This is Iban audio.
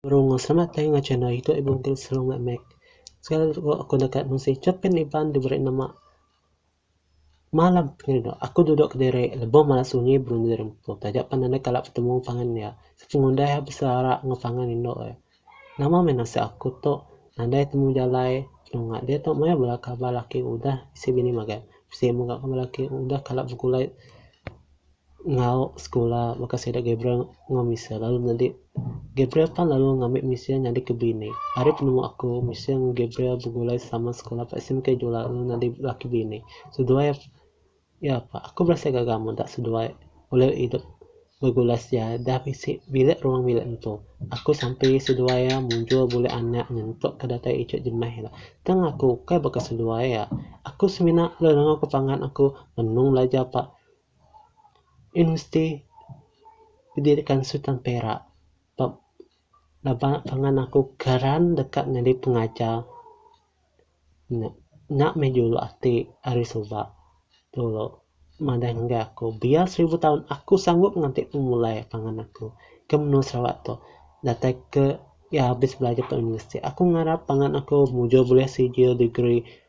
Rung, selamat tayung ga channel iku ibu enti selalu ga mic. Sekali lagi aku deka mesti chapin Iban diberi nama. Malam kini tu, aku duduk kediri lebuh mala sunyi berunding rempu. Taja pan enda kala betemu pangan iya, siti ngundah iya beselera enggau pangan indu iya. Nama meh nasib aku tu, nadai temu jalai penunga diatu maya bala kaban laki udah bisi bini magat. Bisi mega kaban laki udah kala begulai. enggau sekula baka sida Gabriel enggau Michelle lalu nyadi Gabriel pan lalu ngambi Michelle nyadi ke bini. Ari penemu aku Michelle enggau Gabriel begulai sama sekula ba SMK Jula lalu nyadi laki bini. Seduai iya pa aku berasai gaga meda seduai ulih idup begulai sedia dah bisi bilik ruang bilik empu. Aku sampe seduai iya mujur buleh anak nyentuk ke datai ije jemah ila. Tang aku ukai baka seduai iya. Aku semina lalu nengah ku pangan aku benung belajar pa Universiti Pendidikan Sultan Perak ba ba pangan aku keran deka nyadi pengajar nya nya meh julu ati ari suba dulu madah ngagai aku biar seribu taun aku sanggup nganti ku mulai pangan aku ke menua Sarawak tu datai ke iya habis belajar ke universiti aku ngarap pangan aku mujur bulih sijil degree.